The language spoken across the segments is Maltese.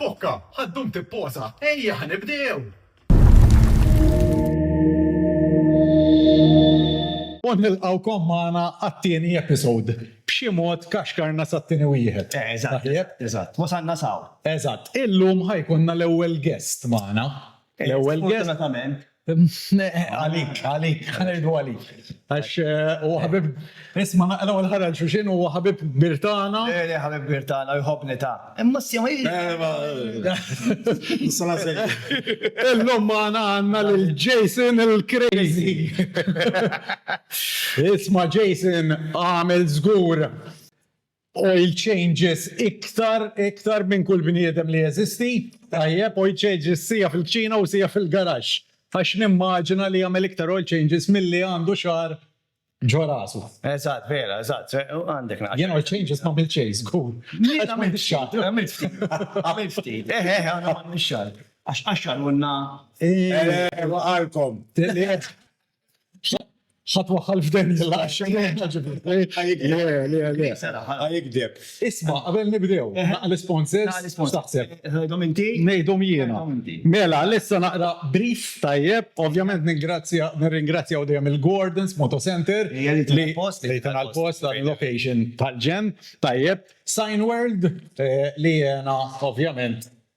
Pokka, ħaddum tipposa, ejja ħanibdew! U nilqawkom magħna għat-tieni episode. B'xi mod kaxkarna sat-tieni wieħed. Eżatt, eżatt. Wasalna s'hawn. Eżatt. Illum ħa jkollna l-ewwel guest magħna. L-ewwel guest. Sfortunatament. Għalik, għalik, ħanirdu għalik. Għax eh, u ħabib, isma naqra u l-ħara l-xuxin u ħabib birtana. Eri eh, ħabib birtana u jħobni ta. Imma s sema Sala sejja. Illum maħna għanna l-Jason il-Crazy. Isma Jason għamil zgur. Oil changes iktar, iktar minn kull bniedem li jeżisti, tajjeb, oil changes siegħa fil-kċina u siegħa fil-garaxx, għax nimmaġina li jagħmel iktar oil changes milli għandu xagħar ġo rasu. Eżatt, vera, eżatt, għandek naqra. Jien oil changes m'għamilt xejn, żgur. Jien għamilt xagħar. Għamilt ftit, għamilt ftit. Eħe, eħe, aħna m'għamilniex xagħar. Għax qaxxarulna. Eħe, waqgħalkom. ħadd waħħal f'Daniel għax jikdeb. Isma' qabel nibdew, naqra l-isponsors x'taħseb? Tgħidhom inti? Ngħidhom jiena. Mela, issa naqra brief tajjeb, ovvjament ningrazzja, nirringrazzjaw dejjem il-Gordon's Moto Center li tagħna l-post għal location tal-ġenn, tajjeb, Signworld li jena ovvjament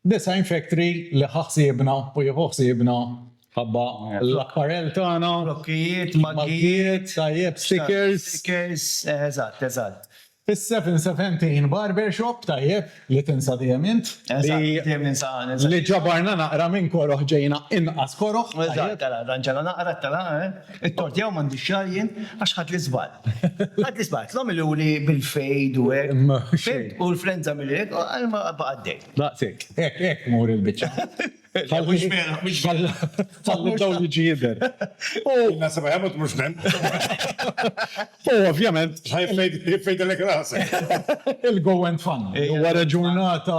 Design Factory li ħa ħsiebna u jieħu ħsiebna ħabba l-apparel tagħna. Blokkijiet, maggijiet. Tajjeb, stickers. Stickers, eżatt, eżatt. Is-Seven Seventeen Barbershop, tajjeb, li tinsa dejjem int. Eżatt, dejjem ninsa ana, eżatt. Li ġabarna naqra minn koroh ġejna inqas koroh. Eżatt, tela, dan ġana naqra, tela, eh. It-tort jew m'għandix xahar jien għax ħadd l-iżball. Ħadd l-iżball, tlhom iluli bil-fejd u hekk. Ma xejn. U l-flenza milli hekk, għal ma baqa' għaddej. Daqshekk. Hekk, hekk mur il-biċċa. Ħalli. Mhux vera, mhux vera. Ħalli d-dawl jiġi jidher. U. Jiena seba' jemut mhux nen. U ovvjament. Ħaj jfejdilek rasek. Il-go went funny. Wara ġurnata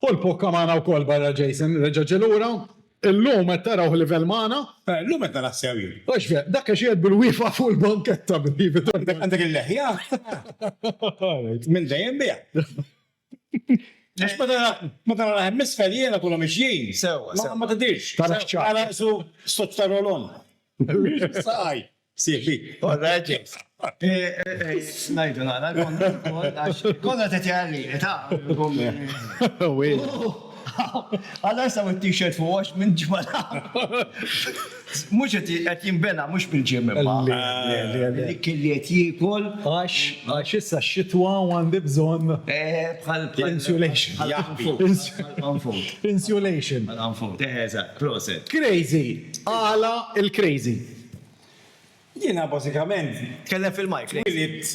Paul Pocca magħna wkoll barra Jason reġa' ġie lura. Illum qed tarawh livell magħna. Illum qed naraħ sew jien. Hux vera, dak għax qiegħed bil-wieqfa fuq il-banketta b'Ivi Tortoni. Għandek il-leħja? Minn dejjem biha. Għax meta naraħ hemm isfel jiena kulhom mixjin. Sewwa, sewwa. Ma tidhirx. Tarax ċar. Tarax su sottarolon. Saqaj. Sibi, orra ġejs. Najdu nara, konna t tjarri, ta' Għalla jisaw il-t-shirt fuq għax minn ġmala. Mux għet jimbena, mux minn ġimma. Dik li għet jikol. Għax, għax issa xitwa u għandi bżon. Bħal insulation. Insulation. Għal-għanfut, eħe, eżat, proset. Crazy, għala il-crazy. Jiena bażikament twilidt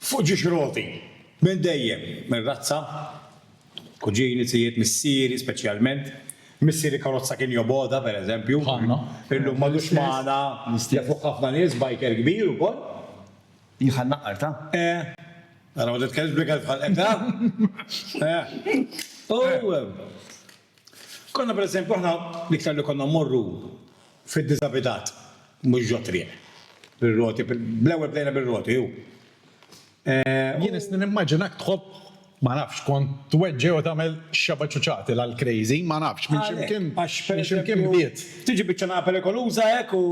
fuq ġiex roti minn dejjem, minn razza, kuġini, zijiet, missieri speċjalment, missieri karozza kien jobgħodha pereżempju, illum m'għadux magħna, jafuh ħafna nies, biker kbir ukoll. Hi bħal naqqar ta'. Eh. Ara ma titkellimx bl-ikel f'ħalqek ha? Eh. U. Konna pereżempju aħna l-iktar li konna mmorru fid-diżabitat, mhux ġot-triq, bir-roti, bl-ewwel bdejna bir-roti u. Jien isni nimmaġinak tħobb, ma nafx, kont tweġġi' u tagħmel x'xebgħa ċuċati l-Al-Crazy, ma nafx, minn x'imkien, minn x'imkien bdiet. Tiġi biċċa nagħla perikoluża hekk u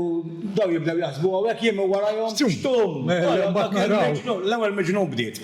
dawn jibdew jaħsbu hawn hekk, jien minn warajhom, xtum! L-ewwel miġnun bdiet.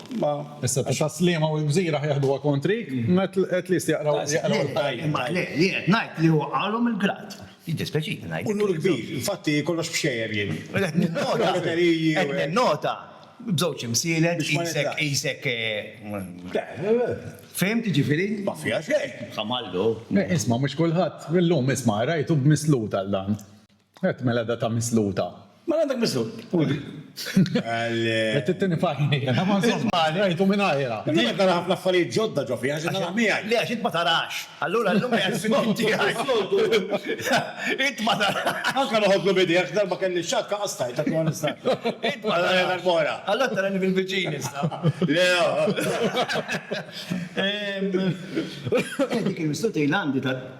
Ma, issa ta' slima u l-gżira ħajħduha kontrik, at least jaqraw il-ħajja. Imma le, li qed ngħid li huwa qalhom il-grad. Jiddispeċini ngħid. Unur kbir, infatti kollox b'xejjer jien. Qed ninnota, qed ninnota, b'żewġ imsielek, qisek, qisek. Fhimt, jiġifieri? Ma fiha xejn. Ħamallu. Isma' mhux kulħadd, illum isma' qrajtu b'mislud għal dan. Għedt mela da ta' misluta. Mela għandek mislut. Għalli. Għedt it-tieni parti. Ismani. Rajtu minn għajra. Din qed nara ħafna affarijiet ġodda ġo fija, x'qed nagħmel miegħi? Le għax int ma tarax. Allura llum qiegħed fis-snin tiegħi. Int ma tarax. Anke noħodlu b'idejja għax darba kelli xakka qastajtha kif ma nistax. Int ma tarax. Għal darb'oħra. Allura tarani fil-viċin issa. Le oh. Dik il-misluta ilha għandi ta'.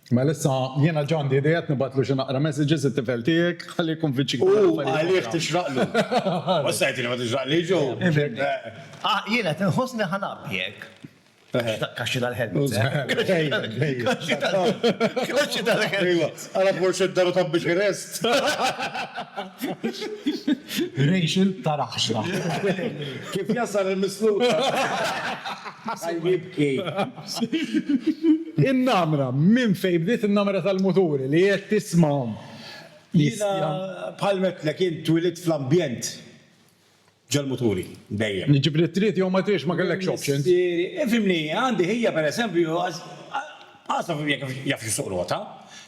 Mela issa jiena ġa għandi idea qed nibgħatlu xi naqra messages it-tifel tiegħek ħalli jikkonvinċik. U għalih tixraqlu. U issa jgħidli ma tixraqlix u. Jiena qed inħossni ħa ngħabbi hekk. Kaxxi tal-helmet. Kaxxi tal-helmet. Ara forsi d-daru ta' Bucharest. Rachel ta' raħxla. Kif jasal il-misluf. Ħa jibki. In-namra, minn fejn bdiet in-namra tal-muturi li qed tismahom? Jiena bħal m'għedtlek int twilidt fl-ambjent ġol-muturi dejjem. Jiġifieri trid jew ma tridx ma kellekx options. Missieri, ifhimni, għandi ħija per eżempju għażla f'hom jekk jafux isuq rota.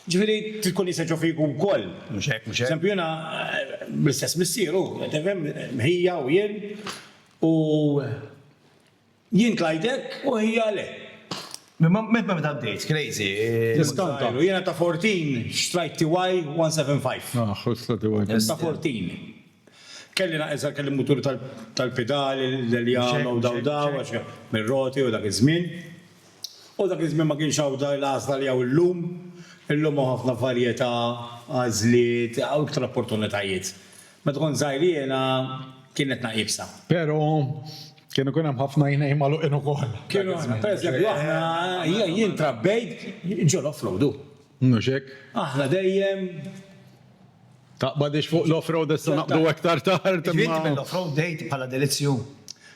Jiġifieri trid tkun jista' jġoffri jkun ukoll. Mhux hekk, mhux hekk. Eżempju jiena bl-istess missier hu, tifhem, ħija u jien u. Jien tlajt hekk u hija le. Meta meta bdejt, crazy? Tiskanta. Jiena ta' Fortin xtrajt TY 175. Aħ, ħosla TY kien tajjeb. Ta' Fortin. Kelli naqqes għalkemm il-mutur tal-pidali, l-eljama u daw daw għax mir-roti u dak iż-żmien. U dak iż-żmien ma kienx hawn l-għażla li hawn illum. Illum hawn ħafna varjetà, għażliet, hawn iktar opportunitajiet. Meta kont żgħir jiena kienet naqibsa. Pero kien ikun hemm ħafna jnejn magħluqin ukoll. Kienu aħna, pereżempju aħna jien trabbejt ġol offroad u. Mhux hekk? Aħna dejjem. Taqbadix fuq l-offroad issa naqbdu aktar tard. Int mill-offroad bdejt bħala delizzju?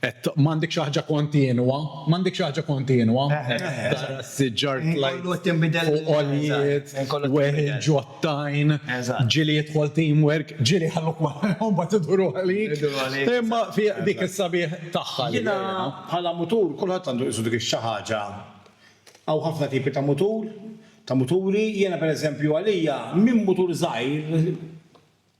Għedt, M'għandek xi ħaġa kontinwa? M'għandek xi ħaġa kontinwa? Tara s-siġar tlajt u għoljiet, weħel ġottajn, ġieli jidħol teamwork, ġieli jħalluk wara u mbagħad iduru għalik. Imma fiha dik is-sabiħ tagħha. Jiena bħala mutur, kulħadd għandu qisu dik ix-xi ħaġa. Hawn ħafna tipi ta' mutur, ta' muturi. Jiena pereżempju għalija minn mutur żgħir,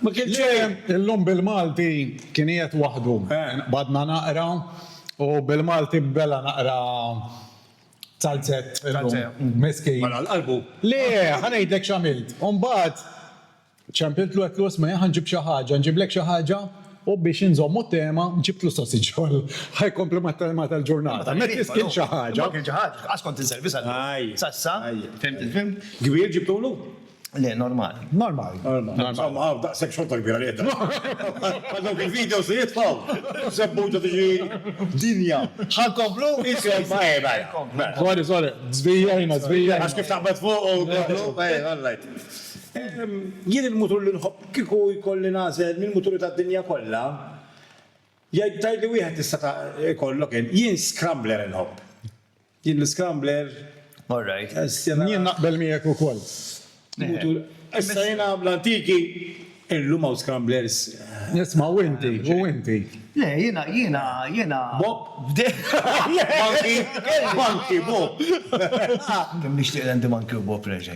Ma kienx hemm. Illum bil-Malti kien qiegħed waħdu. Qbadna naqra u bil-Malti bela naqra tzalzett illum. Miskin. Mar għal qalbu. Le, ħa ngħidlek x'għamilt. Imbagħad ċempiltlu għedtlu isma' ħa nġib xi ħaġa, nġiblek xi ħaġa u biex inżommu t-tema ġibtlu sosage roll. Ħa jkompli mat-tema tal-ġurnata. Meta biss kien xi ħaġa. Ma kien xi ħaġa. Qas kont inservi sa llum. Sa issa. Fimt il-film? Kbir ġibtulu? Le, normali. Normali. Insomma, għaw, daqsek xorta kbira li għedda. Għadok il-video se jitfaw. Sebbuġa tiġi dinja. Għan komplu? Insomma, eba. Sorry, sorry. Zbija jina, zbija. Għax kif taqbad fuq u komplu. Eba, għallajt. Jien il-mutur li nħobb kiku jkolli nazel minn muturi ta' dinja kolla. Jgħid tajli wieħed tista' ta' kollok jien. Jien scrambler nħobb. Jien l-iskambler. All right. Jien naqbel miegħek ukoll. Issa jiena bl-antiki illum hawn scramblers. Isma' u inti, u inti. Le, jiena, jiena, jiena. Bob? Monkey? Monkey, Bob. Kemm nixtieq l-Andy Monkey u Bob reġa'.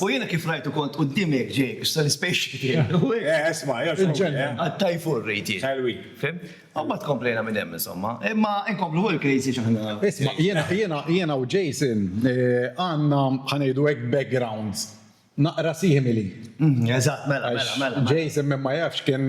U jiena kif rajtu kont quddiem hekk ġej biex tal-ispaceship jgħid u hekk. Eh, isma', jew x'kont ġej, eh. Għad-Thai food rrid jien. Thai week. Fimt? U mbagħad komplejna minn hemm insomma. Imma inkomplu fuq il-crazy għax aħna. Isma', jiena, jiena, jiena u Jason għandna, ħa ngħidu hekk, backgrounds naqra simili. Eżatt, mela, mela, mela. Għax Jason min ma jafx kien.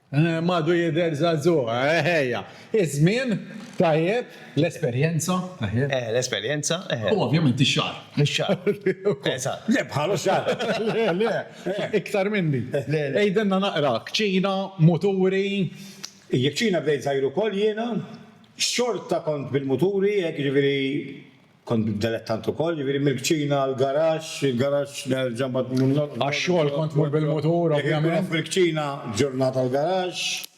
M'għadu jidher żagħżugħ, eħejja. Iż-żmien, tajjeb. L-esperjenza, eħe. Eħe, l-esperjenza, eħe. U ovvjament ix-xagħar. Ix-xagħar. Eżatt. Le bħal xagħar. Le, le. Iktar minni. Le, le. Għidilna naqra, kċina, muturi. Kċina bdejt żgħir ukoll jiena. Xorta kont bil-muturi, hekk jiġifieri Kont dilettant ukoll, jiġifieri mill-kċina għall-garaxx, il-garaxx nerġa' mbagħad mmur norqod. Għax-xogħol kont tmur bil-mutur ovvjament. Kont fil-kċina ġurnata l-garaxx,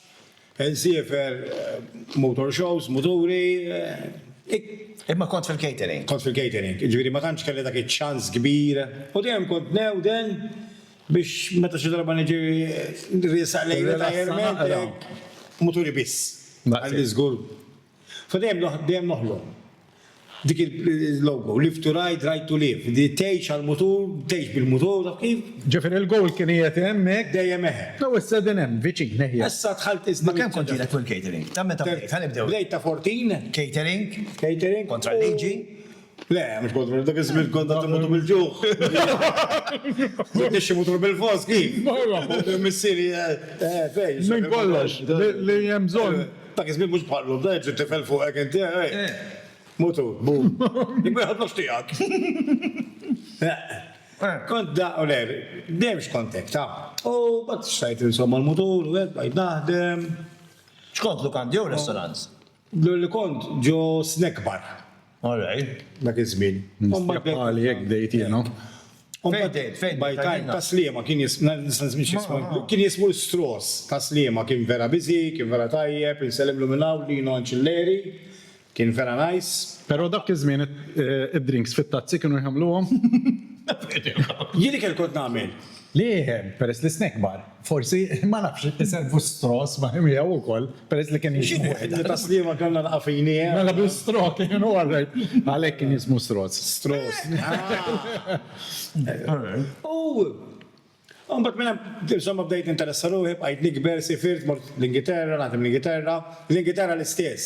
insiefer motor shows, muturi. Imma kont fil-catering. Kont fil-catering, jiġifieri ma tantx kelli dak iċ-ċans kbir u dejjem kont ngħewden biex meta xi darba niġi nriesaq lejn retirement, muturi biss. Għandi żgur. So dejjem dejjem noħlom. Dik il-logo, live to ride, ride to live. Di tgħix għall-mutur, tgħix bil-mutur, taf kif? Ġifieri il-goal kien qiegħed hemm hekk? Dejjem hekk. Jew issa din hemm, viċin, eħjar. Issa dħalt is-. Ma' kemm kont ilek fuq il-catering? Ta' meta bdejt? Ħa nibdew. Bdejt ta' 14. Catering. Catering. Kontra l-liġi. Le, mhux kont vera, dak iż-żmien kont qed imutu bil-ġuħ. Nixxi mutur bil-fos, kif? Mela. Missieri, eh, fejn? Minn kollox, li hemm bżonn. Dak iż-żmien mhux bħal llum, dejjem trid tifel fuqek inti, eh. Mutur, bum. Jekk ma jħoddlokx tiegħek. Eh. Kont da, u le, dejjem x'kont hekk, taf. U mbagħad stajt insomma l-mutur u hekk, bqajt naħdem. X'kontlu, kandja jew restaurants? Jidhirli kont ġo snack bar. All right. Dak iż-żmien. Mistieq bħali hekk bdejt jiena. Fejn bdejt? Fejn bdejt? By time ta' Sliema kien jismu, nista' nismi x'jismu, kien jismu l-Straws ta' Sliema, kien vera busy, kien vera tajjeb, insellmlu minn hawn, Lino Anċilleri, kien vera nice. Però dak iż-żmien id-drinks fit-tazzi kienu jħammluhom? Jien ikel kont nagħmel. Li iħemm, peress li snack bar. Forsi, ma nafx, iservu stross ma' miegħu wkoll, peress li kien jismu wieħed. Ta' sliema kellna l-qafini. Mela bi strok, kienu għarrejt. Għalhekk kien jismu stross. Stross. U mbagħad minn hemm, insomma, bdejt ninteressa ruħi, bqajt nikber, sifirt, mort l-Ingilterra, nagħżem l-Ingilterra, l-Ingilterra l-istess.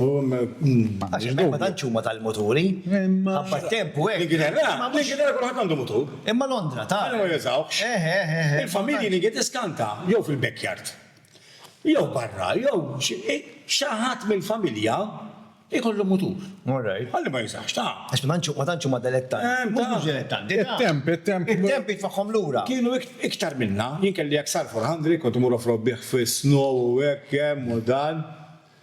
Għax hemmhekk ma tantx huma tal-muturi. Ħabba t-temp u hekk. L-Ingilterra, l-Ingilterra kulħadd għandu mutur. Imma Londra, ta. Għalhekk ma jużawhx. Eħe, eħe, eħe. Il-familji li ġiet iskanta jew fil-backyard, jew barra, jew xi ħadd mill-familja jkollu mutur. All right. Ħalli ma jużawhx, ta. Għax ma tantx, ma tantx huma delettanti. Hemm, ta. Mhux delettanti, ta. It-temp, it-temp. It-temp jitfagħhom lura. Kienu iktar minna. Jien kelli XR400, kont imur off-road bih fis-snow u hekk hemm u dan.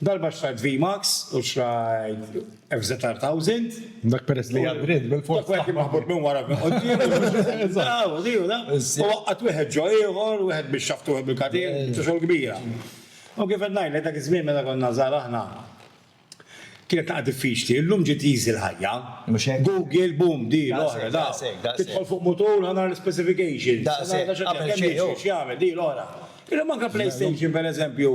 Darba xtrajt V-Max u xtrajt FZR1000. Dak peress li għad ried bil-fors. Dak wieħed maħbut minn wara minn quddiem. Eżatt. Di u da. U waqqgħet wieħed ġo ieħor, wieħed bix-xaft u wieħed bil-katin, biċċa xogħol kbira. U kif qed ngħidlek dak iż-żmien meta konna żgħar aħna kienet taqgħa diffiċli, illum ġiet easy l-ħajja. Mhux hekk? Google, boom, di, l-oħra, da. Daqshekk, daqshekk. Tidħol fuq mutur ħa nara l-ispecifications. Daqshekk. Ħa nara x'għamel xi hu. Kemm jiġri, x'jagħmel, di, l-oħra. Illum anke PlayStation pereżempju.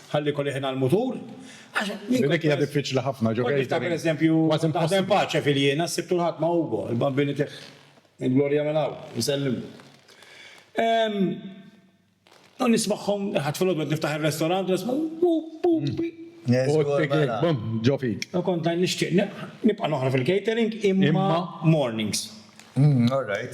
Ħalli jkolli ħin għall-mutur, għax min. Dik hija diffiċli ħafna, ġo catering. Niftakar eżempju, taħdem pace fil-Jiena, s-Sibt u l-Ħadd ma' Ugo, il-Bambini tiegħi. Il-Gloria minn hawn, insellimlu. U nismagħhom, ħadd filgħodu qed niftaħ ir-restorant u nisma' bu bu bi. U t-tigek bum ġo fik. U kont ngħid nixtieq nibqa' noħroġ fil-catering imma mornings. All right.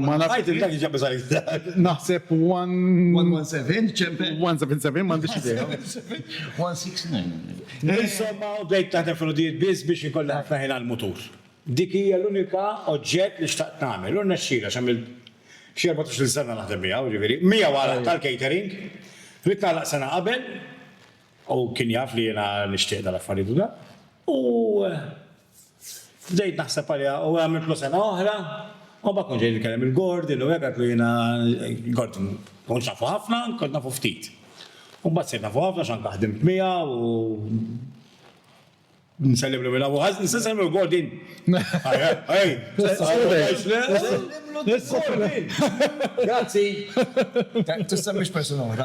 Ma nafx. Għajt il-dak ġabbi sajt. Naħseb 117 ċempe. 177 m'għandix idea. 169. Insomma, u bdejt naħdem fil-ħodijiet biss biex ikolli ħafna ħin għall-mutur. Dik hija l-unika oġġett li xtaqt nagħmel u rnexxieli għax għamilt xi erbatax-il sena naħdem miegħu, jiġifieri, miegħu għal tal-catering. Ridt nagħlaq sena qabel u kien jaf li jiena nixtieq dal-affarijiet u dak. U. Bdejt naħseb għaliha u għamiltlu sena oħra u mbagħad kont ġej nkellem il-Gordon u hekk għedtlu jiena Gordon ma kontx nafu ħafna, kont nafu ftit. U mbagħad sirt nafu ħafna għax anke ħdimt miegħu u nsellimlu minn hawn u ħażen, nista' nsellimlu l-Gordon? Grazzi! Tissemmix persuna oħra.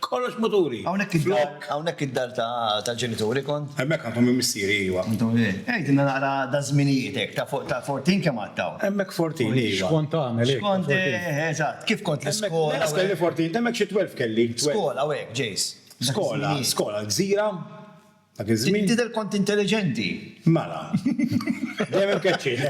Kollox muturi. Hawnhekk id-dar, hawnhekk id-dar tal-ġenituri kont? Hemmhekk għandhom minn missieri, iva. Għidilna naqra daż-żminijiet hekk, ta' fuq ta' Fortin kemm għadt hawn? Hemmhekk Fortin, iva. X'kont tagħmel hekk? X'kont, eżatt, kif kont l-iskola? Hemmhekk kelli Fortin, hemmhekk xi twelv kelli. Skola u hekk, Jace. Skola, skola l-gżira. Dak iż-żmien. Tidher kont intelliġenti. Mela. Dejjem imkeċċin.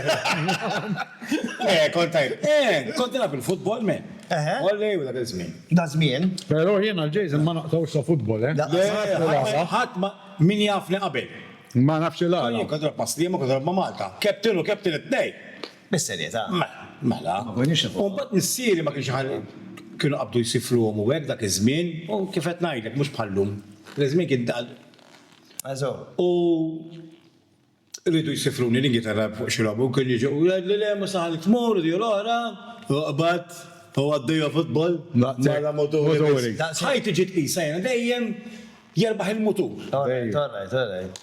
Eh, kont tajjeb. Eh, kont nilgħab il-futbol men. Eħe. Ollej u dak iż-żmien. Dak żmien. Però jien għal Jason ma naqtgħux sa futbol, eh. Le, ħadd- ħadd ma min jafni qabel. Ma nafx il-għala. Jien kont nilgħab ma' Sliema, kont nilgħab ma' Malta. Captain u captain it-tnejn. Bis-serjetà? Mela. Ma konniex nafuha. U mbagħad missieri ma kienx iħalli, kienu qabdu jsifruhom u hekk dak iż-żmien, u kif qed ngħidlek mhux bħal-lum. Dak iż-żmien kien daqs. Għażow. U riedu jsifruni l-ingitarra fuq xi logħba u kienu jiġu u jgħidli le mhux se ħallik tmur u di u l-oħra, u qbad, u għaddejja futbol mal-għala muturi biss. Ħajti ġiet qisha jiena dejjem jerbaħ il-mutur. All right, all right, all right.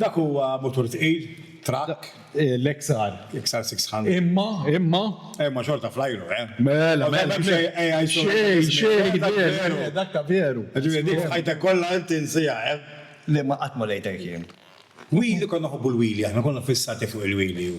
Dak huwa mutur tqil, trakk. L-XR. L-XR 600. Imma, imma. Imma xorta fl-ajru, eh? Mela, mela. Xejn, xejn, veru. Dak ta' veru. Ġifieri dik f'ħajtek kollha int tinsiha, eh? Le, ma qatt ma rejtek jien. Wheelie, konna nħobbu l-wheelie aħna, konna fissati fuq il-wheelie.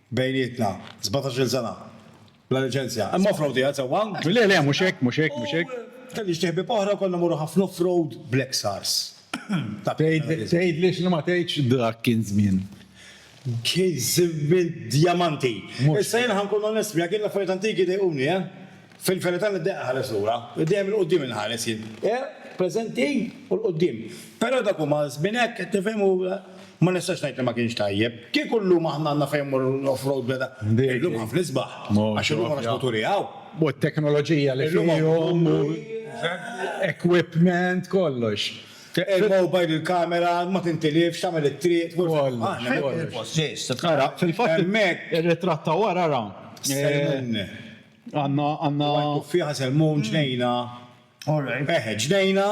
Bejnietna, sbatax-il sena. Bla liċenzja. Hemm off-road qiegħed sewwa? Le, le, mhux hekk, mhux hekk, mhux hekk. U kelli xi ħbieb oħra u konna mmorru ħafna off-road bl-Exars. Tgħidli x'li ma tgħidx dak kien żmien. Kien żmien djamanti. Issa jiena ħa nkun onest miegħek, jien l-affarijiet antiki jdejquni, eh. Fil-verità niddeqqa ħares lura, dejjem 'il quddiem inħares jien. Eh, preżenti u 'l quddiem. Però dak huma żmien hekk, qed tifhem u ma nistax ngħid li ma kienx tajjeb. Kieku llum aħna għandna fejn mmorru l-off-road bla da. Illum ħafna isbaħ. Għax illum għandna sputuri hawn. U t-teknoloġija li fihom u l-equipment, kollox. Il-mobile, il-kamera, ma tintilifx, tagħmel it-triq, kollox. Ara, fil-fatt, ir-ritratt ta' wara, ara. Semmilni. Għanna, għanna. Fija selmu ġnejna. Alright. Eħe, ġnejna.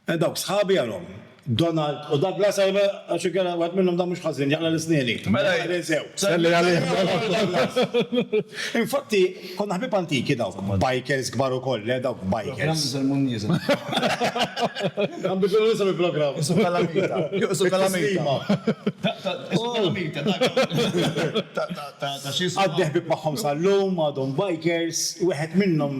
E dawk sħabi għalhom. Donald u Douglas għajba għax ikera għad minnhom da mhux ħażin jaqla l-isnieni. Mela jinsew. Salli għalih. Infatti, konna ħbib antiki dawk. Bikers kbar ukoll, le dawk bikers. Programm iżel mhu nieżel. Għam biex ikunu nisem il-programm. Isu kalamita. Isu kalamita. Isu kalamita. Għadni ħbieb magħhom sal-lum, għadhom bikers, wieħed minnhom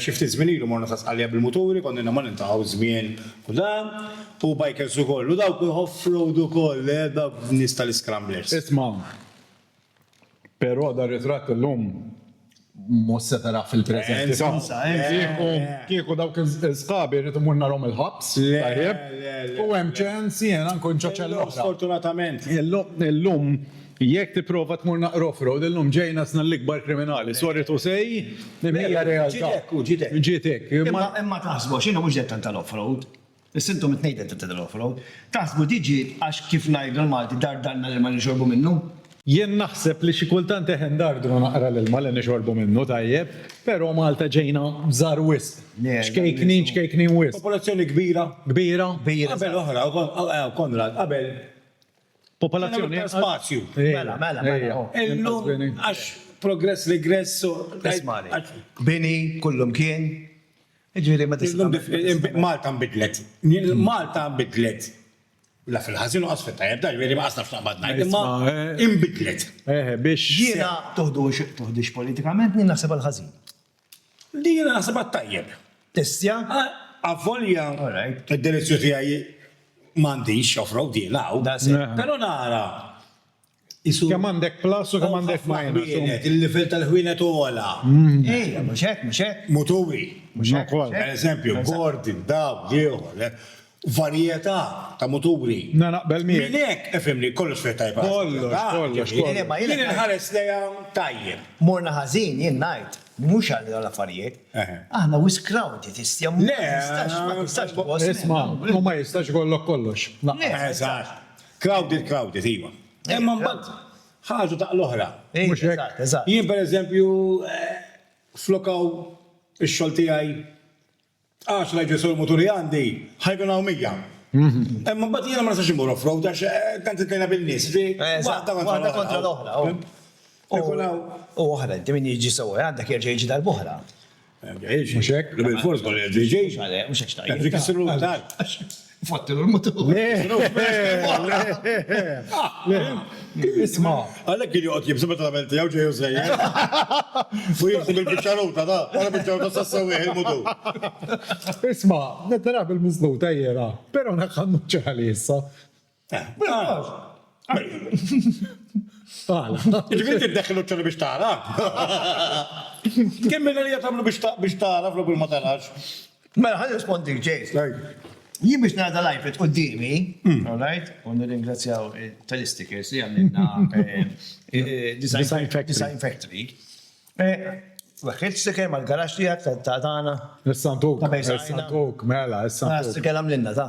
xi ftit żmien ilu morna Sasqalja bil-muturi, konnilna ma niltaqgħu żmien u dan, hu bikers ukoll u dawk off-road ukoll, dawk nies tal-iscramblers. Isma', però dar-ritratt illum Mhux se tarah fil-preżenti. Insomma, kieku, kieku dawk is-sħabi rrid immur narhom il-ħabs, tajjeb, u hemm ċens jiena nkun ġo ċell oħra. Sfortunatament. Illum, jekk tipprova tmur naqra off-road, illum ġej nasna l-ikbar kriminali, sorry to say, imma hija realtà. Ġiet hekk, hu ġiet hekk. Ġiet hekk. Imma taħsbux, inhu mhux dettant tal-off-road. Is-sintomi tnejden ta' Tidal Overload. Taħsbu di ġiet għax kif ngħidu l-Malti dardalna l-ilma li nixorbu minnu? Jien naħseb li xi kultant eħe ndardru naqra l-ilma li nixorbu minnu tajjeb, pero' Malta ġejna żgħar wisq. Ċkejknin ċkejknin wisq. Popolazzjoni kbira. Kbira. Qabel oħra, Konrad, qabel. Popolazzjoni. Kien hemm iktar spazju. Mela, mela, mela. Illum għax progress, regress, so. Ismagħni. Bini, kullimkien. Jiġifieri meta se tagħmel. Malta nbidlet. Malta nbidlet. La fil-ħażin u lanqas fit-tajjeb, dan jiġifieri ma nafx x'naqbad ngħid, imma inbidlet. Jiena. Tuħdux politikament, jien naħsibha l-ħażin. Le jiena naħsibha t-tajjeb. Tistja? Avolja d-delizzju tiegħi m'għandix off-road jiena hawn. Però nara Isu- Kemm għandek plus u kemm għandek minus. Ħwienet, il-livell tal-ħwienet ogħla. Ejja, mhux hekk, mhux hekk. Muturi. Mhux hekk. Ukoll. Per eżempju, Gordon, dawk, ieħor, le. Varjetà ta' muturi. Na, naqbel miegħek. Minn hekk, ifhimni, kollox fiha tajjeb ħażin. Kollox, Ah, kollox, ġifieri, kollox. Le, ma jien- Jien inħares lejha tajjeb. Morna ħażin, jien ngħid, mhux għal dawn l-affarijiet. Eħe. Aħna wisq crowded, istja, ma Le, tistax, ma tistax tħossni. Isma', u ma jistax ikollok kollox. Lanqas. Le. Eżatt. Crowded, crowded, iva. Imma mbagħad ħarġu daqqa l-oħra. Mhux hekk? Eżatt, eżatt. Jien pereżempju flok hawn ix-xogħol tiegħi għaxra jsegwu muturi għandi, ħa jkun hawn mija. Imma mbagħad jiena ma nistax immur off-road għax tant intlejna bin-nies. Waħda kontra l-oħra. Ikun hawn. U oħra, inti min jiġi jsewwek għandek jerġa' jiġi darb'oħra. Mhux hekk? Bil-fors ma l-ġejġejx. Mhux hekk xtajt. Dik isiru tal. Fottilu l-mutur. Isma. Għalhekk kien joqgħod jibsu meta tagħmel tiegħu ġej u sejjer. U jibsu bil-biċċaruta ta' wara biċċaruta sa sewwieħ il-mutur. Isma, nittarab il-miżluta jiera, però naħħa nnuċċi ħalli issa. Ġifieri tiddeħħel u ċċola biex tara? Kemm minn għalija tagħmlu biex tara flok biex ma tarax? Mela ħa nirrispondik, Jace. Tgħid. Jien biex nara dal-iPad quddiemi, alright, u nirringrazzjaw Telestickers li għamlilna Design Factory. Weħħilt sticker mal-garaxx tiegħek ta' tagħna. Is-Sant Oak. Ta' Bejsajna. Is-Sant Oak, mela, is-Sant Oak. Sticker għamlilna, ta.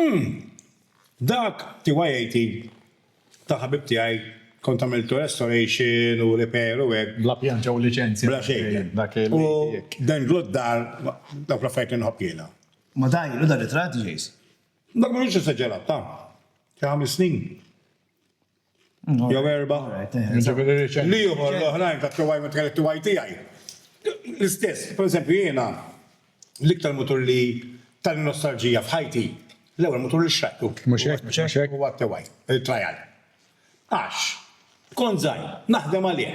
Umm! Dak TYAT ta' ħabib tiegħi kont għamiltu restoration u repair u hekk. Bla pjan ġew liċenzja. Bla xejn. U dan glott dar dawk l-affarijiet li nħobb jiena. Ma da ilu da ritratt, Jace? Dak mhux esaġerat, ta' xi ħames snin. Jew erba'. L-ieħor l-oħrajn tat-tiegħi meta kelli t-tiegħi tiegħi. L-istess, pereżempju jiena l-iktar mutur li tani nostalġija f'ħajti, l-ewwel mutur li xtrajtu huwa t-tiegħi, il-Trial. Għax kont żgħir, naħdem għalih.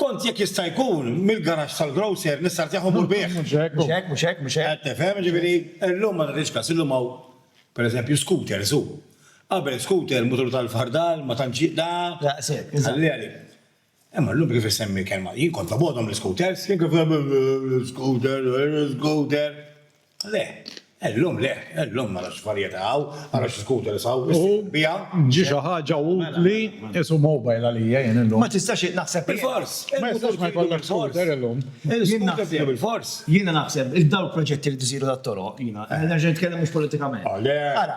Kont jekk jista' jkun mill-garaxx tal-grocer nista' rtih u mmur bih. Mhux hekk, mhux hekk, mhux hekk, mhux hekk. Qed tifhem? Jiġifieri, illum ma nagħtix kas, illum hawn, per eżempju, scooters, hu. Qabel scooter, mutur tal-fardal, ma tantx ji, da. Daqshekk, eżatt. Ħalli għalik. Imma llum kif issemmi l-kelma, jien kont obgħodhom l-scooters, jien kif, scooter, scooter. Le, illum le, illum ara x'varjetà hawn, ara xi scooter hawn, issejħu biha. Ġie xi ħaġa utli, qisu mobile għalija jien illum. Ma tistax naħseb bilfors. Ma jistax ma jkollok scooter illum. Jien naħseb bilfors. Jiena naħseb, dawk il-proġetti li jridu isiru tat-toroq, jiena nerġa' nitkellem mhux politikament. Ara,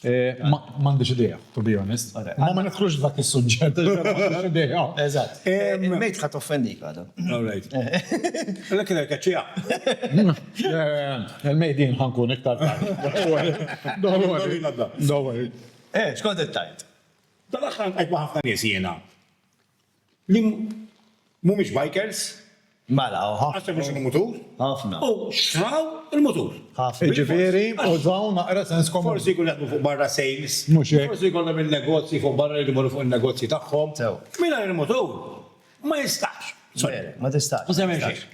M'għandix idea, to be honest. Ma ma nidħlux f'dak is-suġġett, m'għandix idea. Eżatt. Il-mejt ħadd offendik għadu. All right. Lekk il-lekk ċija. Il-mejt jien ħankun iktar tard. Don't worry. Don't worry. Eh, xkont it-tajt? Tal-aħħar nqajt ma' ħafna nies jiena. li mhumiex bikers. Mela, u ħafna. Għax jafu x'inhu mutur. Ħafna. U xtraw il-mutur. Ħafna. Jiġifieri, użaw naqra sens komuni. Forsi jkunu jaħdmu fuq barra sales. Mhux hekk. Forsi jkollhom in-negozji fuq barra jridu jmorru fuq in-negozji tagħhom. Sew. Mingħajr il-mutur ma jistax. Sorry. Le, ma tistax.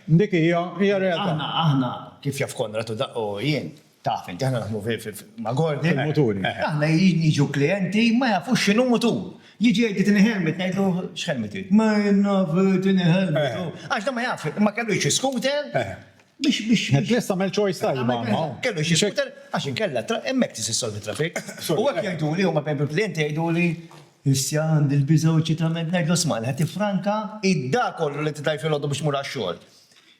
Dik hija, hija realtà. Aħna, aħna, kif jaf Konrad u jien. Taf inti aħna naħdmu ma' Gordy. Il-muturi. Aħna jiġu klijenti ma jafux x'inhu mutur. Jiġi jgħid tini helmet ngħidlu x'helmet trid? Ma jien naf tini helmet. Għax dan ma jafx, ma kellu xi scooter biex biex. Lest tagħmel choice tajba. Kellu xi scooter għax inkella hemmhekk tista' ssolvi traffic. U hekk jgħiduli huma bejn il-klijenti jgħiduli issa għandi l-biża' u ċitament ngħidlu isma' ħa tifranka id-da kollu li tidaj filgħodu biex tmur għax-xogħol.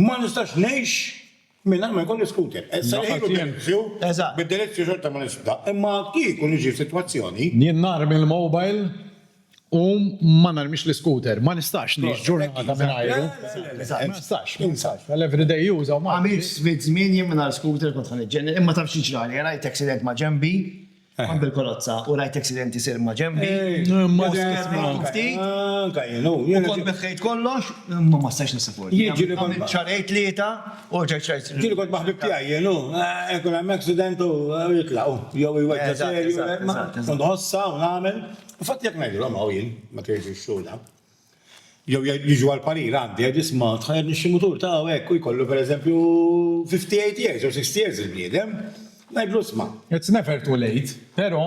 Ma nistax ngħix mingħajr ma jkolli skuter. Issa li ħilu delizju, bid-delizju xorta ma nisfda, imma kieku niġi f'sitwazzjoni. Jien narmi l-mobile u ma narmix l-iskuter. Ma nistax ngħix ġurnata mingħajru. Ma nistax, ma nistax. Għall-everyday use hawn Malti. Għamilt ftit żmien jien mingħajr skuter kont ħa niġġennin, imma taf x'ġrali, rajt accident ma' ġenbi, Kont bil-karozza u rajt accident isir ma' ġenbi. U kont neħħejt kollox, imma ma stajtx nissapportja. Għamilt xahrejn tlieta u rġajt xtrajt. Ġieli kont ma' ħbib tiegħi jien hu. Ikun hemm accident u jitlaq hu. Jew iweġġa' serju. Kont nħossha u nagħmel. Infatti jekk ngħidilhom hawn jien, ma tgħidx ix-xhud hawn. Jew jiġu għal parir għandi għax biss ma tħajjar nixxi mutur ta' hekk u jkollu pereżempju 58 years jew 60 years il-bniedem, ngħidlu isma'. It's never too late, però.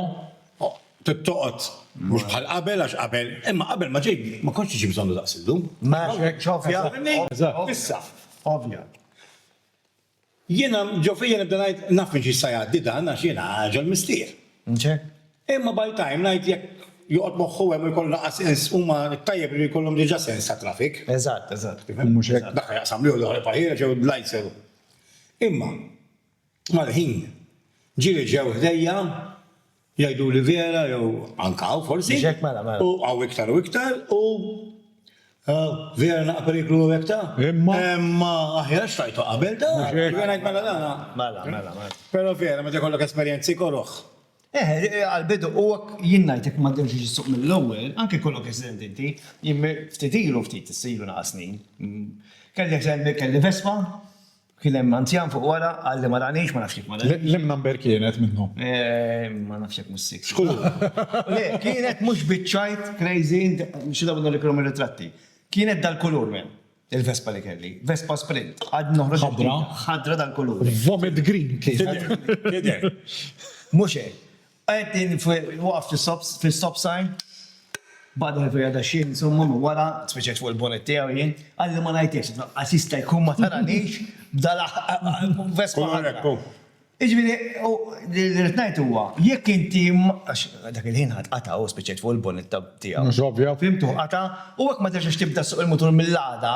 Trid toqgħod mhux bħal qabel għax qabel, imma qabel ma ġej ma kontx tiġi bżonnu daqs illum. M'hemmx hekk. Fhimni? Issa. Ovvja. Jiena, ġo fija nibda ngħid, naf minn xi jista' jgħaddi dan għax jiena ġol missier. Imma by time ngħid jekk joqgħod moħħu hemm u jkollu l-anqas sens huma t-tajjeb irid ikollhom diġà sens ta' traffic. Eżatt, eżatt. Tifhem? Mhux hekk? Dak x'jaqsam jew dawk il-pajjiera jew l-lights jew. Imma, mal-ħin, ġieli ġew ħdejja Jgħiduli Vjera jew anke hawn forsi. Mhux hekk mela mela. U hawn iktar u iktar u Vjera naqra periklu u hekk ta? Imma. Imma aħjar xtajtu qabel ta? Mhux hekk. Jiena ngħid mela dan. Mela mela mela. Però Vjera meta jkollok esperjenzi koroh. Eħe, għall-bidu u hekk jien ngħid jekk ma tdemx biex issuq mill-ewwel, anke jkollok accident inti, jien ftit ilu ftit issa ilu naqas snin, kelli accident kelli Vespa, Kien hemm anzjan fuq wara, qal li ma ranix, ma nafx jekk ma ranix. Liema number kienet minnhom? Ma nafx jekk mhux sikt. Żgur. Le, kienet mhux biċ-ċajt crazy, xi darba nuriek l-omm ir-ritratti. Kienet dal-kulur men, il-Vespa li kelli. Vespa Sprint. Għadni noħroġ. Ħadra? Ħadra dal-kulur. Vomit green kienet. Tidher. Mhux hekk. Qegħdin waqaf fl-istop sign, baqgħet Olivera daqsxejn insomma minn wara, tfiċċet fuq il-bonnet tiegħu jien, qalli ma ngħidlekx, lanqas jista' jkun ma taranix b'dal-Vespa ħadra. Jiġifieri, li rrid ngħid huwa, jekk inti għax dak il-ħin ħadd qatgħa u spiċċajt fuq il-bonnet tiegħu. Mhux ovvja. Fhimtu? Qatgħa u hekk ma terġax tibda ssuq il-mutur mill-għada,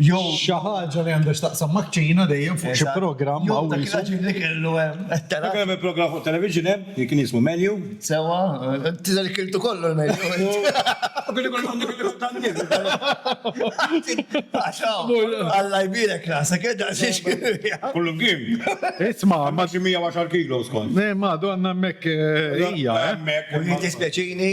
Jew xi ħaġa li għandha x'taqsam maċ-Ċina dejjem fuq xi programm jew dak il-ħaġib li kellu hemm. Dak hemm il-programm fuq television hemm li kien jismu Menu. Sewwa, inti se li kiltu kollu l-menu int. U kien ikun għandu kien ikun tan-nies. Għax hawn, Alla jbierek rasek, eh daqsiex kien fiha. Kollu mkien. Isma'. Imma xi 110 kilos kont. Le, ma donna hemmhekk hija, eh. Hemmhekk. Jiddispjaċini,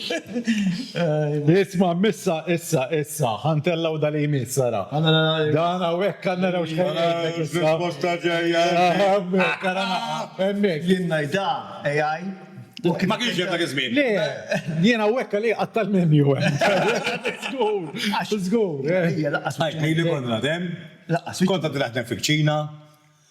Isma, missa, issa, issa, ħantellgħu da li jmiss, ara. Dan hawnhekk għandna naraw x'ħajr. Risposta ġejja. Hemmhekk, ara hemmhekk. Jien ngħidha AI. Ma kienx hemm dak iż-żmien. Le, jien hawnhekk għalih qatt tal-menu hemm. Żgur, żgur. Ejja, laqqas. Ħajt ngħidlek kont nagħdem. Laqqas. Kont għadni naħdem fil-kċina.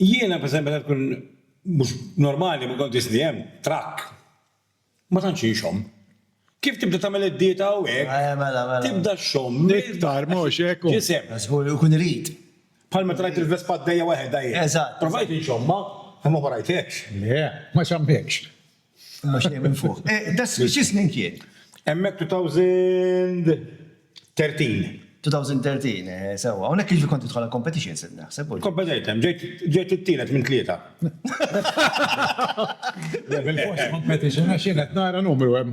Jiena pereżempju meta nkun mhux normali ma nkun ġisni hemm, trakk. Ma tantx inxomm. Kif tibda tagħmel id-dieta u hekk. Eħe mela mela. Tibda xxomm iktar mhux hekk u. Ġisem. Żgur li jkun irid. Bħal meta rajt il-Vespa għaddejja waħedha jien. Eżatt. Provajt inxommha imma ma rajthekx. Le, ma xammhekx. Imma xejn minn fuq. Eh, da xi snin kien? Hemmhekk 2013. 2013, eh, sewwa. Hawnhekk jiġri kont tidħol għall-competitions qed naħseb. Kompetejt hemm, ġejt it-tielet minn tlieta. Bil-fors competition għax jien qed nara numru hemm.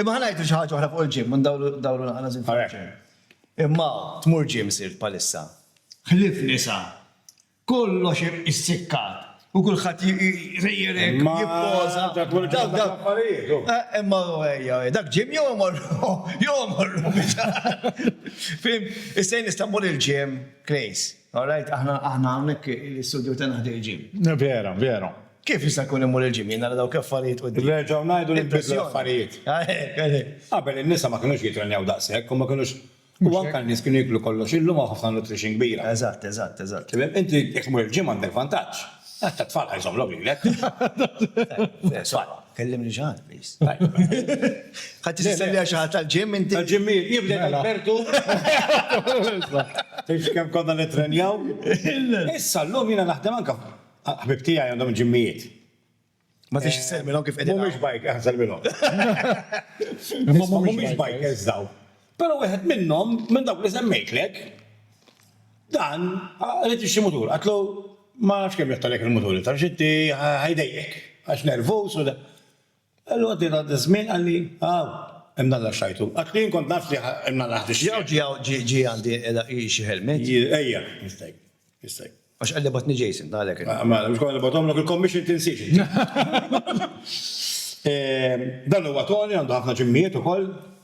Imma ħa ngħidu xi ħaġa oħra fuq il-gym u ndawru naqra żied fuq il-gym. Imma tmur gym sirt bħalissa? Ħlief nisa, kollox issikkat u kulħadd jrejjelek, jippoża. Imma ejja, dak gym jew imorru jew imorru biex. Fim, issa jien nista' mmur il-gym, Klejs, all right, aħna hawnhekk l-istudju tagħna ħdej il-gym. Vera, vera. Kif jista' jkun immur il-gym jien nara dawk l-affarijiet quddiem? Nerġgħu ngħidu li nbidlu l-affarijiet. Qabel in-nisa ma kinux jittrenjaw daqshekk u ma kinux u anke n-nies kienu jieklu kollox, illum hawn ħafna nutrition kbira. Eżatt, eżatt, eżatt. Tifhem? Inti jekk tmur il-gym għandek vantaġġ. Għax tat-tfal ħa jżommlhom lilek. It-tfal. Kellimni xi ħadd please. Ħadd jista' jsemmi lil xi ħadd tal-gym inti? Tal-gymmijiet jien bdejt Albertu. Tgħidx kemm konna nittrenjaw. Issa llum jiena naħdem anke Ħbieb tiegħi għandhom ġimmijiet. Ma tix tisselmilhom kif qegħdin. Mhumiex bike, eh, selmilhom. Imma mhumiex bikers daw. Però wieħed minnhom, minn dawk li semmejtlek, dan qed ixxi mutur. Qatlu ma nafx kemm jottalek il-mutur, taf xi ħajdejjek għax nervuż u Allura ġie dak iż-żmien qalli, Hawn, imnalla x'għajtu. Għax jien kont naf li imnalla ħadd ix-xjeda. Jew ġie hawn ġie għandi għela hi xi ħelmiet? Ejja, jistgħi, jistgħi. Għax qalli bagħatni Jason, għalhekk qed. Mela, mhux konna nibgħathomlok il-commission tinsiex inti. Dan huwa Tony għandu ħafna ġimmijiet ukoll.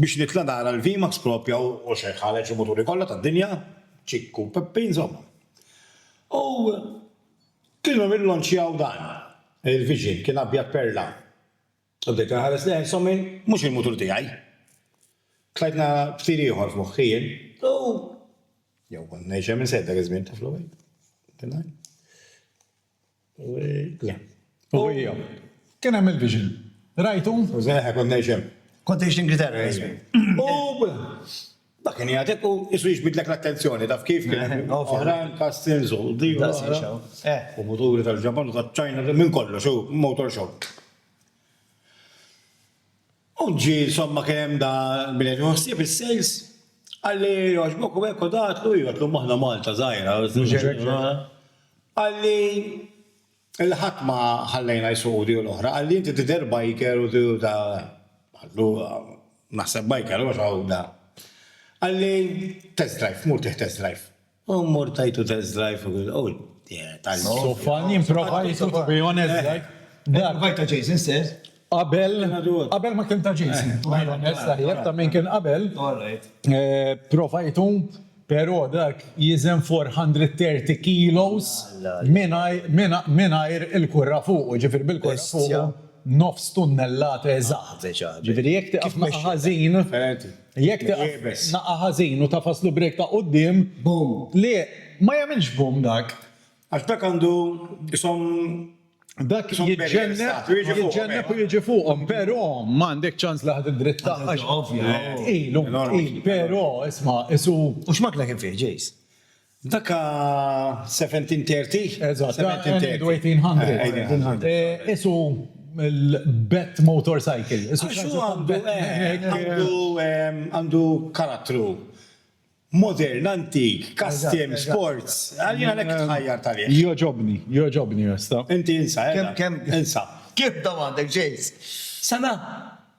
Biex nitla' nara l-VMAX proprja u xejn ħareġ il-muturi kollha tad-dinja, Ċikku u Peppi insomma. U kienu rillonċjaw dan, il-Vision, kien abjad perla. U bdejt inħares lejh insomma mhux il-mutur tiegħi. Tlajt nara ftir ieħor f'moħħi jien u jew kont ngħix hemm insejt dak iż-żmien taf l-ewwel. U hija. Kien hemm il-vision. Rajtu? Żgħaħ kont ngħix hemm. Kont tgħix l-Ingilterra, ismi. U dak kien jagħtik u qisu jiġbidlek l-attenzjoni, taf kif? Kien hemm oħrajn castings u din u l-oħra. U muturi tal-Ġapan u taċ-Ċina, minn kollox, u motor show. U ġie insomma kien hemm da min qed jieħu ħsieb is-sales, qalli jogħġbok u hekk u da għedtlu iva, għedtlu imma aħna Malta żgħira. Qalli illi ħadd ma ħallejna jsuqu di u l-oħra, qalli inti tidher biker u di u da. Qaltlu naħseb biker għax hawn da. Qalli test drive, mur tieħ test drive. U mmur tajtu test drive fuq il-qwl tal-. Sofan jimprova jissu to be honest like. Provajt ta' Jason stess. Qabel, qabel ma kien ta' Jason, to be honest, tajjeb ta' min kien qabel. All right. Provajtu, pero dak jiżen 430 kilos mingħajr il-kurra fuqu, ġifieri bil-kurra fuqu nofs tunnellata eżatt. Ġifieri jekk tieqaf magħha ħażin. Jekk tieqaf naqa' ħażin u tagħfas l-ubriek ta' quddiem. Boom. Le, ma jagħmilx boom dak. Għax dak għandu qishom. Dak jiġġenneb u jiġi fuqhom, però ma għandek ċans li ħa tiddrittah għax. Ovvja. Tqil, hu tqil, però isma' qisu. U x'makna kien fih, Jace? Dak seventeen thirty? Eżatt, seventeen thirty. Eighteen hundred. Qisu l-Bett Motorcycle. Għax hu għandu, eh, għandu karattru. Modern, antik, custom, sports. Jiena hekk tħajjart għalih. Jogħġobni, jogħġobni, jasta. Inti insa, eh. Kemm, kemm, insa. Kif domandek, Jace? Sena?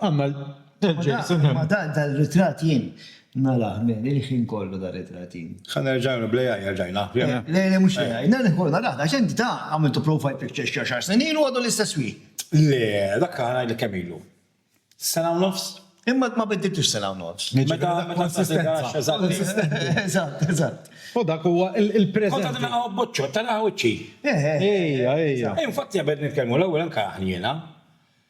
Għamma dan tal-ritrat jien narah men il-ħin kollu dan ritrat jien. Ħa nerġa' nagħmlu bl AI erġajna. Le le mhux l AI nerġa' nkollu narah għax int da għamiltu profile picture xi għaxar snin ilu għadu l-istess wieħed. Le dak ħa ngħidlek kemm ilu. Sena u nofs? Imma ma biddiltux sena u nofs. Meta konsistenza. Eżatt eżatt. U dak huwa il-preżenti. Kont għadni naqgħu b'buċċotta naqgħu wiċċi. Ejja ejja. Infatti qabel nitkellmu l-ewwel inkarahni jiena.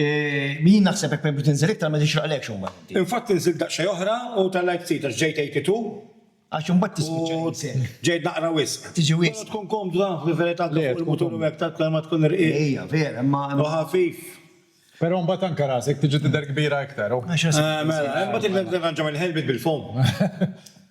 Jien naħseb hekk permezz tinżel iktar ma tixraqlekx imbagħad inti. Infatti inżilt daqsxejn oħra u tellgħet ftit għax ġejt 82. Għax imbagħad tispiċċa tinżel. Ġejt naqra wisq. Tiġi wisq. Però tkun komdu taf li verità ta' fuq il-mutur u hekk taf kemm ma tkun irqiq. Ejja, vera, imma. U ħafif. Però imbagħad anke rasek tiġi tidher kbira iktar u. Mela, imbagħad inti titranġa mill-helmet bil-foam.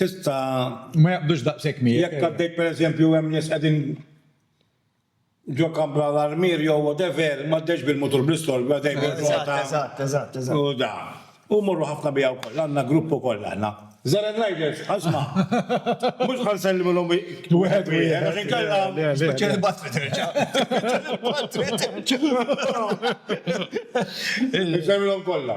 tista'. Ma jaqbdux daqshekk miegħek. Jekk għaddej pereżempju hemm nies qegħdin ġo kampra l-armier jew whatever, m'għaddejx bil-mutur bl-istorbju għaddej bir-rota. Eżatt, eżatt, eżatt. U da. U mmorru ħafna biha wkoll, għandna grupp ukoll aħna. Żeren Riders, asma'. Mhux ħa nsellimilhom wieħed wieħed għax inkella. Spiċċa l-batri terġa'. Spiċċa l-batri terġa'. Insellimilhom kollha.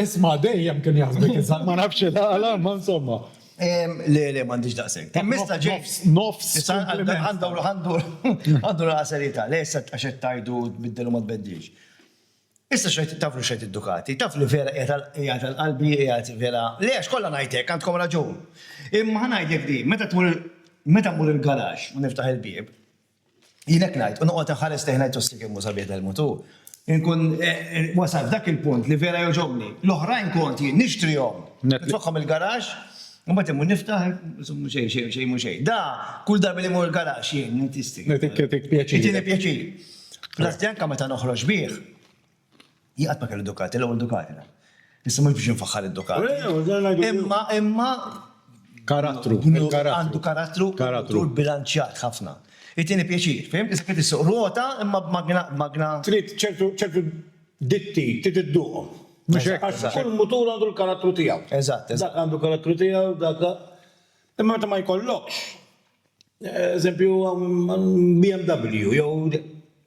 Isma' dejjem kien jaħsbek iżgħar. Ma nafx il-għala, imma insomma. Le, le, m'għandix daqshekk. Mista' James. Nofs. Għandu naqra serjetà. Le, issa għax qed tgħidu tbiddel u ma tbeddilx. Issa x'qed taflu x'qed id-Ducati? Taf li vera qiegħed għal qalbi, qiegħed vera. Le, għax kollha ngħid hekk, għandkom raġun. Imma ħa ngħidlek din, meta tmur meta mmur il-garaxx u niftaħ il-bieb, Jien hekk ngħid, u noqgħod inħares lejh ngħid ossi kemm hu sabiħ dal-mod hu. Inkun wasalt dak il-punt li vera jogħġobni. L-oħrajn kont jien nixtrihom, nitfagħhom il-garaxx, imbagħad immur niftaħ, insomma xejn xejn xejn mhu xejn. Da, kull darba li mmur il-garaxx jien, ngħid istik. Ngħidik pjaċir. Itieni pjaċir. Fl-assi anke meta noħroġ bih, Jien qatt ma kelli Ducati, l-ewwel Ducati dan. Issa mhux biex infaħħar id-Ducati. Imma, imma. Karattru, il-karattru. Għandu karattru. Karattru. Bilanċjat ħafna. Itieni pjaċir, fhimt? Issa trid issuq ruota imma b'magna, magna. Trid ċertu, ċertu ditti, trid idduqhom. Mhux hekk. Għax kull mutur għandu l-karattru tiegħu. Eżatt, eżatt. Dak għandu l-karattru tiegħu, dak. Imma meta ma jkollokx, eżempju, BMW jew.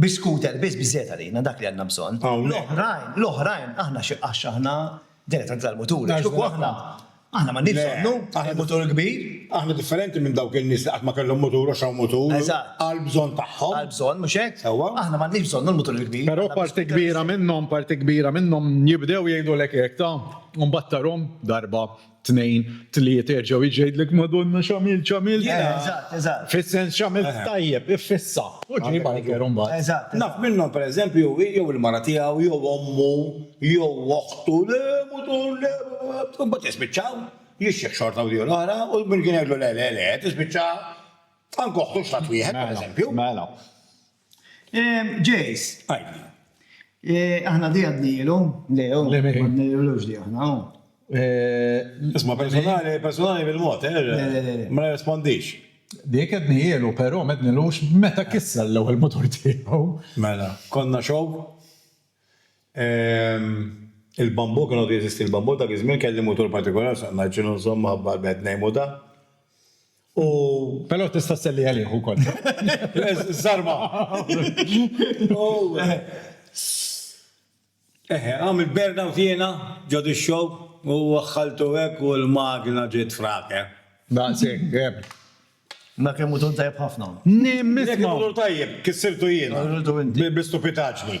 Bi scooter biss biżżejjed għalina, dak li għandna bżonn. L-oħrajn, l-oħrajn aħna xi għax aħna dilettanti tal-mutur. Għax kieku aħna, aħna m'għandniex bżonnu l-mutur kbir. Aħna differenti minn dawk in-nies li qatt ma kellhom mutur għax hawn mutur għall-bżonn tagħhom. Għall-bżonn, mhux hekk? Sewwa. Aħna m'għandniex bżonnu l-mutur il-kbir. Però parti kbira minnhom, parti kbira minnhom jibdew jgħidulek hekk, ta' u mbagħad tarhom darba tnejn, tlieta jerġgħu jiġi jgħidlek Madonna x'għamilt, x'għamilt. Eh, eżatt, eżatt. Fis-sens x'għamilt eh. tajjeb, iffissa. U ġej bajker imbagħad. Eżatt. Naf minnhom pereżempju jew il-mara tiegħu jew ommu jew oħtu le mutur le imbagħad jispiċċaw jixxieħ xorta u diju l-oħra u min kien jgħidlu le le le tispiċċa anke oħtu x'tat wieħed mela, pereżempju. Mela. Jace, għidli. Aħna di għadnijilu? Le, oh. Le, miri. Għadnijilux di aħna, oh. Isma, personali, personali bil-mod, eh? Le, le, le. Ma nirrespondix. Dik għadnijilu, pero mednilux meta kissa l-ewel motor tiegħu. Mela, konna xow. Il-bambu, kienu di jesisti l-bambu, dak iż-żmien kelli motor partikolar, saqna ġinu nżomm maħabba l-bed nejmu da. U però tista' sselli għalih ukoll. Żarma. Eħe, għamil burnout jiena ġo dix-xogħol u waħħaltu hekk u l-magna ġiet frake. Daqshekk, eh. Imma kemm hu ton tajjeb ħafna. Nimma. Jekk imur hu tajjeb, kissirtu jiena. Kissirtu inti. Bi stupitaġni.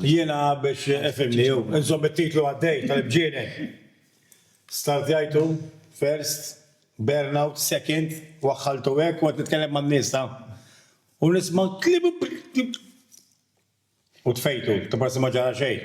Jiena biex, efhimni, u nżomm it-titlu għaddej tal-Ibġienen, stardjajtu first, burnout second, waħħaltu hekk u qed nitkellem man-nies ta' u nisma' kliem u tfejtu, ta' prosi ma ġara xejn.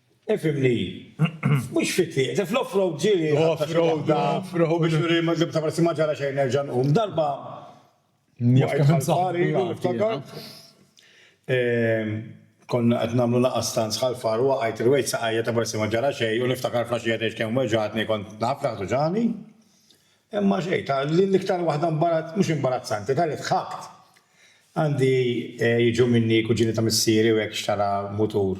Ifhimni, mhux fit-tlieq, se fl-off-road ġieli ħatta xi waħda u biex nuri li b'ta' forsi ma ġara xejn nerġa' nqum. Darba waqajt ħal-far ilu niftakar. Konna qed nagħmlu laqgħa stanz ħal-far u waqajt, irwejt saqajja ta' forsi ma ġara xejn u niftakar fl-għaxija tgħidx kemm weġgħatni kont naf li ħduġani. Imma xejn, ta' din l-iktar waħda imbarazz, mhux imbarazzanti, ta' li dħakt. Għandi jiġu minni kuġini ta' missieri u hekk xtara mutur.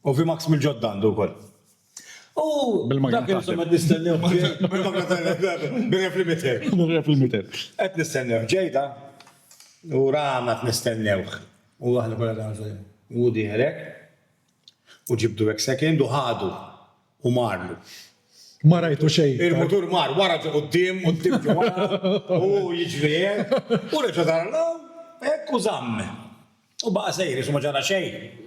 U VMAX mill-ġodda għandu wkoll. U dak li qed nistennew bil-magna taħdem. Bir-rep li mither. Bir-rep li mither. Qed nistennew ġejda u Rama qed nistennewh. U aħna kollha qed ngħidu hu dieher hekk. U ġibdu hekk second u ħadu u marlu. Ma rajtu xejn. Il-mutur mar wara ġo quddiem, quddiem ġo wara, u hu jiġri hekk. U reġa' dar lura hekk u żamm. U baqa' sejjer għax ma ġara xejn.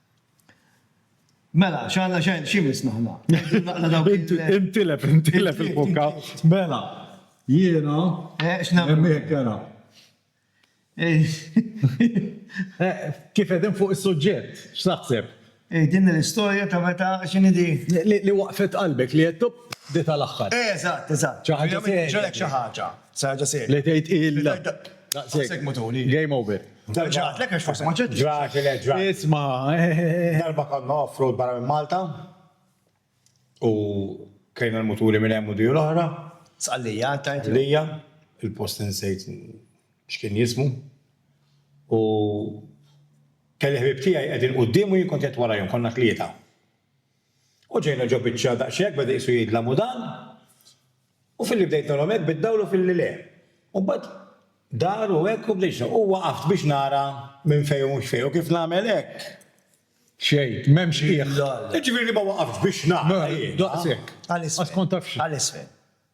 Mela, x'għandna xejn x'imiss aħna. Neħdu naqra dawk il- Int- Intilef, intilef il-bokka. Mela, jiena, Eh, x'nagħmlu? hemm hekk ara. Eh, Kif qegħdin fuq is-suġġett, x'taħseb? Eh, din hi l-istorja ta' meta, x'inhi di? Li li waqfet qalbek, li għedt, Up, di tal-aħħar. Eżatt, eżatt. Xi ħaġa serja. Ġralek xi ħaġa. Saħġa serja. Li tgħid illa. Daqshekk mutuli. Game over. Ġrat, lek għax forsi ma ġrat. Ġrat, le ġrat. Isma. Darba konna off-road barra minn Malta u kajna l-mutuli minn hemm u diju l-oħra. Sqallija, tajt. Sqallija, il-post insejt x'kien jismu. U kelli ħbib tiegħi qegħdin quddiem u jien kont qed warajhom konna tlieta. U ġejna ġo biċċa daqshekk beda qisu jidlam u dan, u filli bdejt nagħmlhom hekk biddawlu u filli le. U mbagħad dar u hekk u bdejt xogħol. U waqaft biex nara minn fejn u mhux fejn u kif nagħmel hekk. Xejn, m'hemmx qiegħ. Jiġifieri li ma waqaftx biex nara jien. Daqshekk. Għal isfel. Għax kont taf xi. Għal isfel.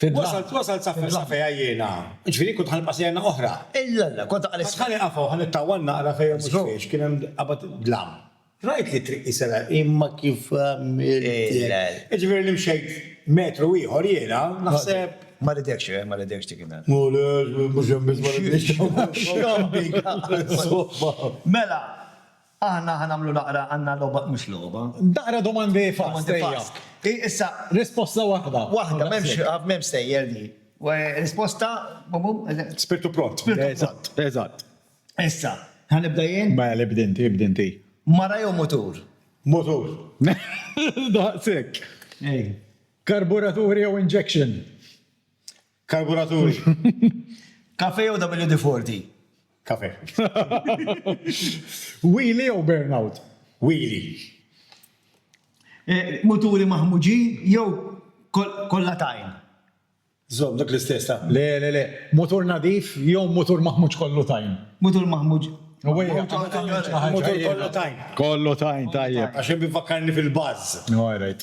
Wasalt, wasalt sa fejn, sa fejn għajjiena. Ġifieri kont ħa nibqa' sena oħra. Illalla, kont aqal is-sena. Ħa nieqaf hawn, ħa nittawwal naqra fejn mhux fiex, kien hemm qabad dlam. Rajt li t-triq qisira imma kif għamilt. Ġifieri li mxejt metru ieħor jiena, naħseb. Ma ridekx, eh, ma ridekx dik in-nhar. Ma ridekx, mhux hemm biss ma ridekx. X'għamilna? Insomma. Mela. Aħna ħa nagħmlu naqra għandna logħba mhux logħba. Naqra domandi fast. Domandi fast. Issa. Risposta waħda. Waħda, m'hemmx stejjer di. Risposta, bum-bum, eżatt. Spirtu pront. Spirtu pront. Eżatt, eżatt. Issa, ħa nibda jien? Mela, ibda inti, ibda inti. Mara jew mutur? Mutur. Daqshekk. Ej. Karburatur jew injection? Karburaturi. Kafè jew WD-40? Kafè. Wheelie jew burnout? Wheelie. Muturi maħmuġin jew kollha tajn? Żomm dak l-istess ta'. Le, le, le. Mutur nadif jew mutur maħmuġ kollu tajn? Mutur maħmuġ. Mutur kollu tajn. Kollu tajn, tajjeb. Għax hemm ifakkarni fil-buzz. All right.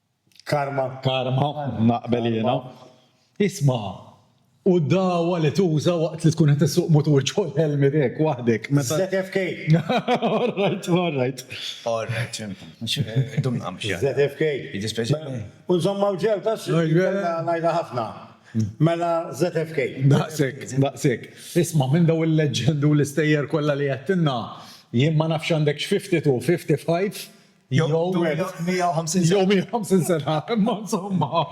Karma. Karma, naqbel jiena. Isma', u d-dagħwa li tuża waqt li tkun qed issuq mutur ġol ħelmiet hekk waħdek meta. ZFK. All right, all right. All right, x'inhu? Dum nagħmel xi ħaġa. ZFK. Jiddispjaċini. U nżommha f'ġew tax kellha ngħidha ħafna. Mela ZFK. Daqshekk, daqshekk. Isma' minn dawn il-leġġendi u l-istejjer kollha li għedtilna, jien ma nafx għandekx fifty two, fifty five, Jew 150 sena. Jew 150 sena, imma insomma.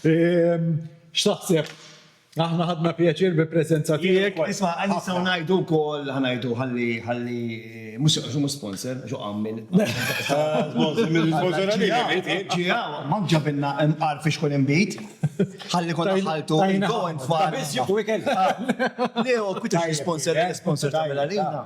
Ehm, x'taħseb? Aħna ħadna pjaċir bi preżenza tiegħek. Isma' għandi sew ngħidu wkoll ħanajdu ħalli ħalli mhux għax mhux sponsor, għax għammil. Ġiha, ma ġabilna imqar fiex kun imbit. Ħalli kont ħaltu go and far. Biss jieħu ikel. Leo, kwitu sponsor, sponsor ta' Milalina.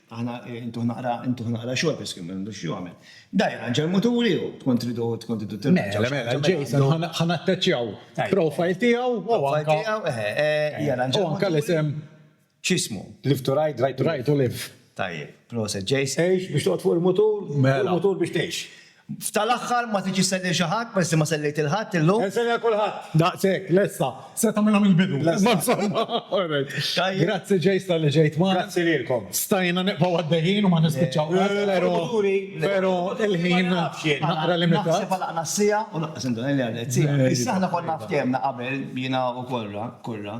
Aħna intuh naqra intuh naqra xogħol biss kien m'għandux x'jagħmel. Da jirranġa l-muturi hu, tkun tridu tkun tridu tirranġaw. Mela, mela, Jason ħa ħa natteċċjaw profile tiegħu u anke tiegħu eħe, jirranġa. U anke l-isem. X'ismu? Live to ride, ride to live. Tajjeb, proset Jason. Għex biex toqgħod fuq il-mutur, fuq il-mutur biex tgħix. F'tal-aħħar ma tridx issellil xi ħadd peress li ma sellejt lil ħadd illum. Insellil lil kulħadd. Daqshekk, lesta. Se tagħmilha mill-bidu. Imma insomma, all right. Tajjeb. Grazzi Jace talli ġejt magħna. Grazzi lilkom. Stajna nibqgħu għaddejjin u ma nispiċċaw qatt, pero, pero il-ħin naqra limitat. Naħseb għalaqna s-siegħa u laqqas induna li għaddiet siegħa. Issa aħna konna ftehemna qabel jiena u Korra, Kurra,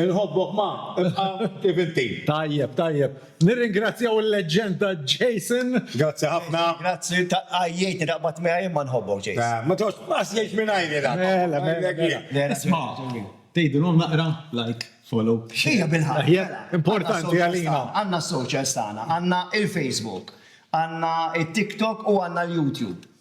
Inħobbok ma, ibqa' kif inti. Tajjeb, tajjeb. Nirringrazzjaw il-leġġenda Jason. Grazzi ħafna. Grazzi ta' għajjejtni daqs ma tmiegħi imma nħobbok Jason. Ma tgħodx qas jgħix mingħajri dan. Mela, mela, mela. Isma', tgħidilhom naqra like, follow, share. Hija bil-ħaqq. Mela, importanti għalina. Għandna s-socials tagħna, għandna il-Facebook, għandna it-TikTok u għandna l-YouTube.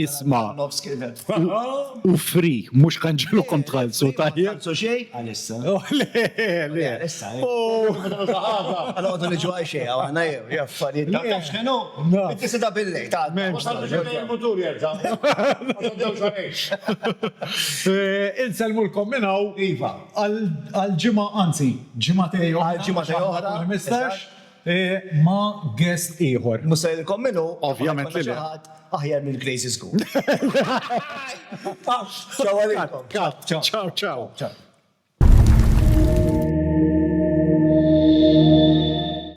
Isma', u fri, mhux kanġilkom tħallsu, tajjeb? Insellmulkom minn hawn għal ġimgħa, anzi, ġimgħatej oħra, għall-ħmistax. ma' guest ieħor. Mhux se ngħidilkom min hu, imma ma jkollna xi ħadd aħjar minn Crazy School. Ciao għalikom. Ciao ciao.